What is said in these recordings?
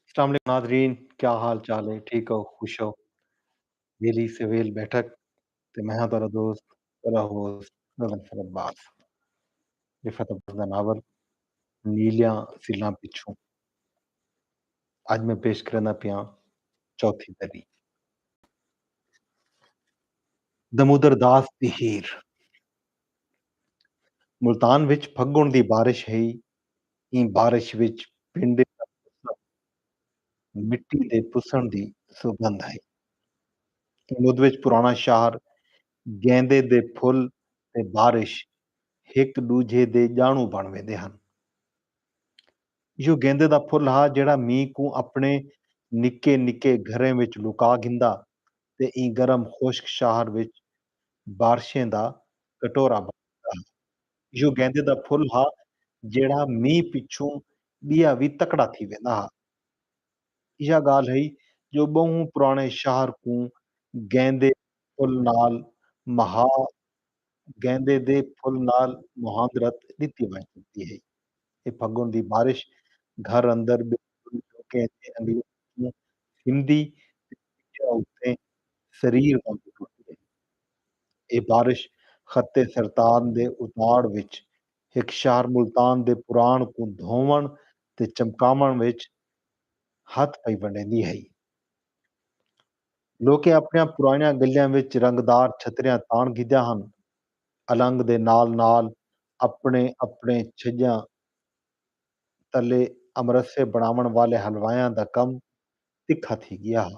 اسلام علیکم ناظرین کیا حال چال ہے ٹھیک ہو خوش ہو ویلی سے ویل بیٹھک تے میں ہاں تیرا دوست تیرا ہوست رضا فر عباس رفت عباس دا ناول نیلیاں سیلاں پچھوں اج میں پیش کرنا پیاں چوتھی دری دمودر داس دی ہیر ملتان وچ پھگن دی بارش ہئی ایں بارش وچ پنڈے دا موسم مٹی دے پسݨ دی سوگندھ ہئی۔ ایں مدھ وچ پراݨا شہر، گیندے دے پھل تے بارش ہک ݙوجھے دے ڄاݨوں بݨ ویندے ہن۔ ایہو گیندے دا پھل ہا جیڑھا مینہ کوں اپݨے نکے نکے گھریں وچ لکا گھندا تے ایں گرم خشک شہر وچ بارشیں دا کٹورا بݨ ویندا ہا۔ ایہو گیندے دا پھل ہا جیہڑا مینہہ پچھوں ٻیا وی تکڑا تھی ویندا ہا۔ ایہا ڳالھ ہئی جو ٻہوں پراݨے شہر کوں گیندے پھل نال مہا گیندے دے پھل نال مہاندرت ݙتی ونڄ سڳدی ہئی۔ اے پھڳݨ دی بارش گھر اندر ٻے پھل جو کہیں دے انگلیں پچھوں سمدی تے ٻیا اتے سریر وانگوں ٹردی ہئی۔ اے بارش خط سرطان دے اتاڑ وچ ہک شہر ملتان دے پراݨ کوں دھووݨ تے چمکاوݨ وچ ہتھ پئی ونڈیندی ہئی۔ لوکیں اپݨیاں پراݨیاں گلیاں وچ رنگدار چھتریاں تاݨ گھدیاں ہن۔ النگ دے نال نال اپݨے اپݨے چھڄاں تلے امرسے بݨاوݨ والے حلوائیاں دا کم تکھا تھی ڳیا ہا۔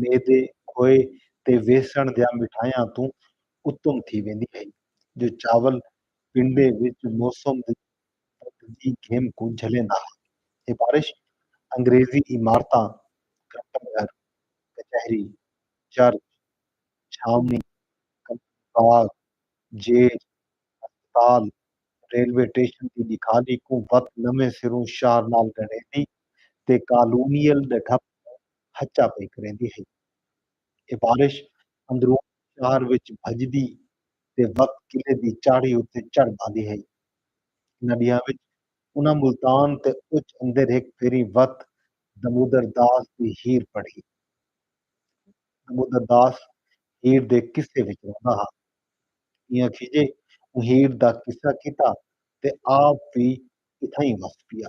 میدے، کھوئے تے ویسݨ دیاں مٹھائیاں توں اتم تھی ویندی ہئی جو چاول پنڈے وچ موسم دی بدھ دی گھم کوں جھلیندا ہا۔ ایہ بارش انگریزی عمارتاں، گھنٹہ گھر، کچہری، چرچ، چھاوݨی، کمپنی باغ، جیل، ہسپتال، ریلوے ٹیشن دی ݙکھالی کوں وت نویں سروں شہر نال ڳنڈھیندی تے کالونیل ݙھپ کوں ہچا پئی کریندی ہئی۔ اے بارش اندرون شہر وچ بھڄدی تے وقت قلعے دی چاڑھی اتے چڑھ بھاندی ہئی۔ انہاں ݙینہاں وچ انہاں ملتان تے اچ اندر ہک پھیری وت دمودر داس دی ہیر پڑھی۔ دمودر داس ہیر دے قصے وچ رہندا ہا۔ ایہاں کھیجے اوں ہیر دا قصہ کیتا تے آپ وی اتھائیں وس پیا۔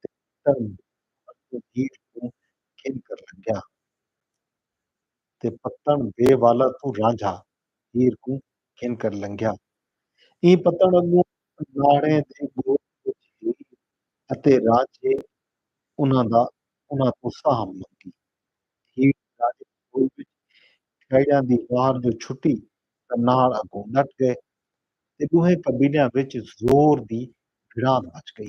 تے پتر مر اپݨی دھیر کوں گھن کر لنگھیا۔ تے پتݨ بے والا توں رانجھا دھیر کوں گھن کر لنگھیا۔ ایں پتݨ اڳوں اناڑیں دے ڳول پچھ ہئی اتے رانجھے انہاں دا انہاں توں ساہم منگی۔ دھیر اناڑیں دے ڳول وچ کھیڑیاں دی وار جو چھٹی تاں ناڑ اڳوں ݙٹ ڳئے تے ݙوہیں قبیلیاں وچ زور دی بھڑاند مچ ڳئی۔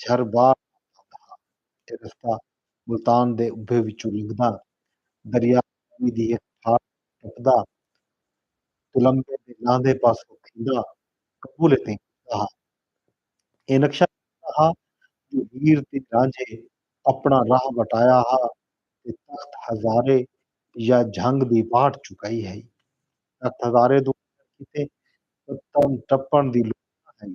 جھر بار آندا ہا۔ اے رستہ ملتان دے ابھے وچوں لنگھدا، دریا راوی دی ہک پھاڑ کوں ٹپدا، تلمبے دے لاندھے پاسوں تھیندا کبولے تئیں پڄدا ہا۔ اے نقشہ ݙسدا ہا جو ہیر تے رانجھے اپݨا راہ وٹایا ہا تے تخت ہزارے یا جھنگ دی واٹ چکائی ہئی۔ تخت ہزارے دو وٹݨ کیتے پتن ٹپݨ دی لوڑھ نہ ہئی۔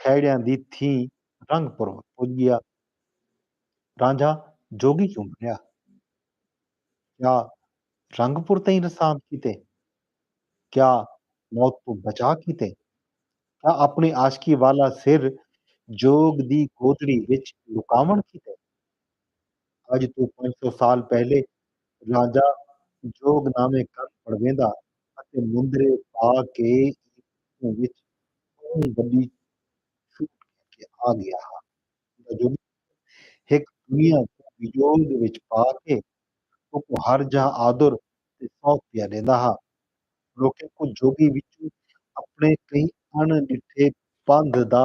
کھیڑیاں دی تھیں رنگ پروت پج ڳیا۔ رانجھا جوڳی کیوں بݨیا۔ کیا رنگ پور تئیں رساند کیتے؟ کیا موت توں بچا کیتے؟ کیا اپݨی عاشقی والا سر جوڳ دی گودڑی وچ لکاوݨ کیتے؟ اڄ توں پنج سو سال پہلے رانجھا جوڳ نامے کن پڑویندا اتے مندرے پا کے ایں ݙوہوں وچ ٻہوں وݙی چھوٹ کر کے آ ڳیا ہا۔ اوندا جو ݙوہ ہک دنیا کوں وجول دے وچ پا کے اوکوں ہر جاہ آدر تے سوکھ پیا ݙیندا ہا۔ لوکیں کوں جوڳی وچوں اپݨے کہیں اݨ ݙٹھے پندھ دا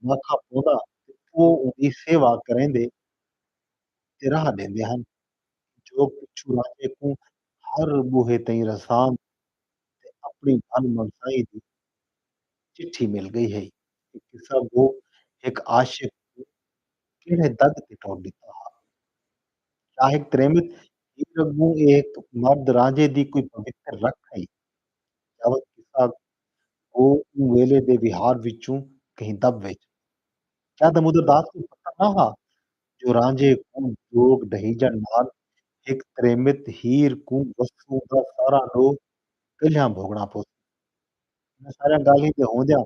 ماکھا پوندا تے او اوندی سیوا کریندے۔ تے راہ ݙیندے ہن جو پچھوں راجے کوں ہر ٻوہے تئیں رساند تے اپݨی بھن منسائی دی چٹھی مل ڳئی ہئی۔ اے قصہ گو ہک عاشق کوں کیڑھے دڳ تے ٹور ݙتا ہا۔ شاہک تریمت ہیر اڳوں اے ہک مرد رانجھے دی کوئی پوتر رکھ ہئی۔ جاوت قصہ گو اوں ویلے دے وہار وچوں کہیں دٻ ویچ ہئی۔ شاہ دامودرداس کوں پتہ نہ ہا جو رانجھے کوں جوگ ڈھہیجݨ نال ہک تریمت ہیر کوں وسوں دا سارا ݙو کلھیاں بھوڳݨا پوسی۔ انہاں ساریاں ڳالھیں دے ہوندیاں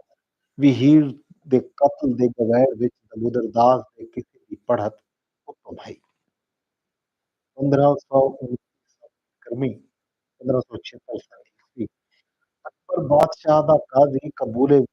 وی ہیر دے قتل دے گویر وچ دمودر داس دے قصے دی پڑھت اتوں بھائی۔ پندرھاں سو انیس سال کرمی، پندرھاں سو چھہتر سال عیسوی، اکبر بادشاہ دا قاضی قبولے وچ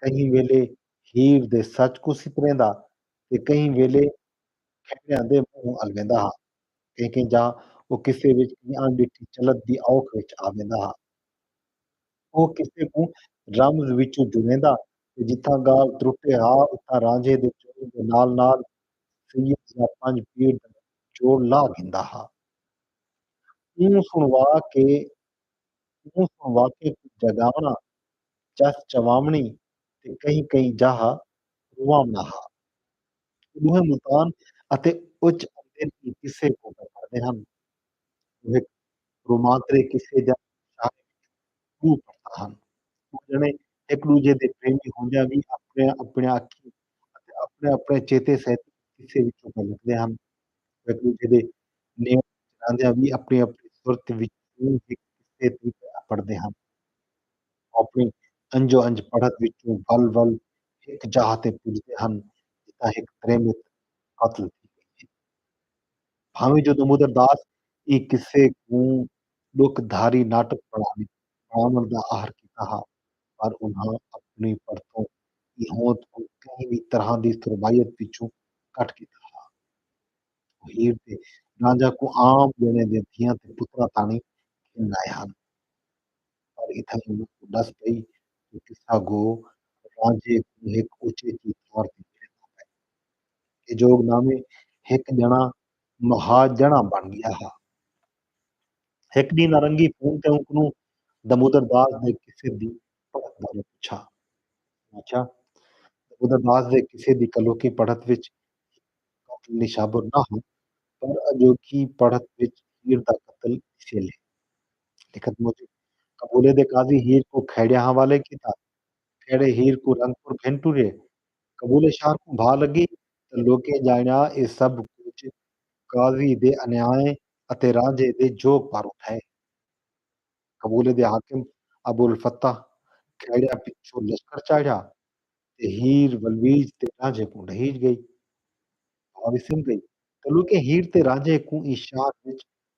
کہیں ویلے ہیر دے سچ کوں ستریندا تے کہیں ویلے کھیڑیاں دے منہ الویندا ہا۔ کہیں کہیں جاہ او قصے وچ ایں اݨ ݙٹھی چلت دی اوکھ وچ آویندا ہا۔ او قصے کوں رمز وچوں جڑیندا تے جتھاں ڳالھ ترٹے ہا اتھاں رانجھے دے جوڑ دے نال نال سید یا پنج پیر دا جوڑ لا گھندا ہا۔ اوں سݨوا کے اوں سݨوا کے کوں جڳاوݨا چس چواوݨی تے کہیں کہیں جاہ رواوݨا ہا۔ او ݙوہیں ملتان اتے اچ اندر ایں قصے کوں پئے پڑھدے ہن۔ او ہک رومانترے قصے جیاں شاعری وچ ݙو پڑھتا ہن۔ او ڄݨے ہک ݙوجھے دے پریمی ہوندیاں وی اپݨیاں اپݨیاں اکھیں اتے اپݨے اپݨے چیتے سیتے ایں قصے وچوں پئے لکھدے ہن۔ او ہک ݙوجھے دے نیڑے وچ رہندیاں وی اپݨی اپݨی صورت وچوں ہک قصے توں پئے اپڑدے ہن۔ اپݨی انج و انج پڑھت وچوں ول ول ہک جاہ تے پڄدے ہن جتھاں ہک تریمت قتل تھی ڳئی ہئی۔ بھانویں جو دمودر داس ایں قصے کوں ݙکھ دھاری ناٹک بݨاوی بݨاوݨ دا عہر کیتا ہا پر انہاں اپݨی پڑھتوں ایں ہوند کوں کہیں وی طرحاں دی سربائیت وچوں کٹ کیتا ہا۔ او ہیر تے رانجھا کوں عام ڄݨے دے دھیاں تے پتراں تاݨی گھن آئے ہن۔ پر اتھائیں انہاں کوں ݙس پئی جو قصہ گو رانجھے کوں ہک اچیچی تھاں تے ٻہندا پئے۔ اے جوگ نامے ہک ڄݨاں مہا ڄݨاں بݨ ڳیا ہا۔ ہک ݙینہہ نارنگی فون تے اونکنوں دمودر داس دے قصے دی پڑھت بارے پچھا۔ اوں آکھیا، دمودر داس دے قصے دی کلوکیں پڑھت وچ ہیر قتل نشابر نہ ہا، پر اڄوکی پڑھت وچ ہیر دا قتل ݙسیل ہے۔ لکھت موجب قبولے دے قاضی ہیر کوں کھیڑیاں حوالے کیتا، کھیڑے ہیر کوں رنگ پور گھن ٹرے، قبولے شہر کوں بھا لگی تاں لوکیں جانڑیا اے سبھ کجھ قاضی دے انیائیں اتے رانجھے دے جوگ پاروں تھئے۔ قبولے دے حاکم ابوالفتاح کھیڑیاں پچھوں لشکر چاڑھیا تے ہیر ولویج تے رانجھے کوں ڈھہیج گئی۔ بھا وسم گئی تاں لوکیں ہیر تے رانجھے کوں ایں شہر وچ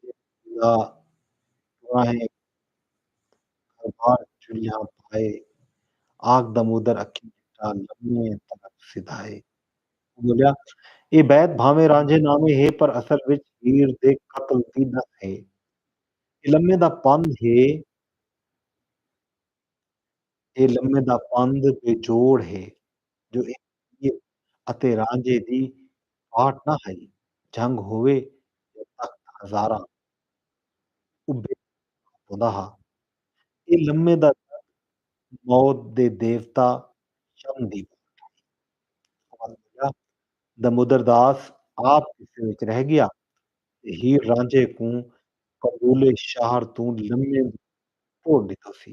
جیڑھا پراہیں دربار چلیاں پائے آکھ دمودر اکھیں چٹا لمے تلک سدھائے۔ ٻولیا اے بیت بھانویں رانجھے نامے ہے پر اصل وچ ہیر دے قتل دی ݙس ہے۔ اے لمے دا پندھ ہے اے لمے دا پندھ بے جوڑ ہے۔ جو اے وزیر اتے رانجھے دی فاٹ نہ ہئی، جھنگ ہووے یا تخت ہزاراں ابھے تے ٹھاہ پوندا ہا۔ اے لمے دا درد موت دے دیوتا شم دی بھاٹ ہئی۔ عمر بھولا دمودر داس آپ قصے وچ رہ ڳیا تے ہیر رانجھے کوں قبول شہر توں لمے دی ٹور ݙتوسی۔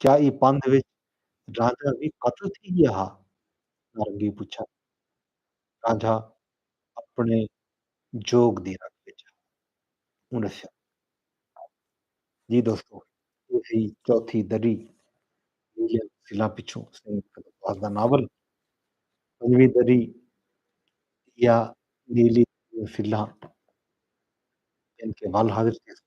کیا ایں پندھ وچ رانجھا وی قتل تھی ڳیا ہا؟ نارنگی پچھا۔ رانجھا اپݨے جوڳ دی رت وچ ہا۔ اوں ݙسیا۔ جی دوستو اے ہئی چوتھی دری نیلیاں تفصیلاں پچھوں سید قدر باز دا ناول۔ پنجویں دری یا نیلی تفصیلاں گھن کے ول حاضر تھیسوں۔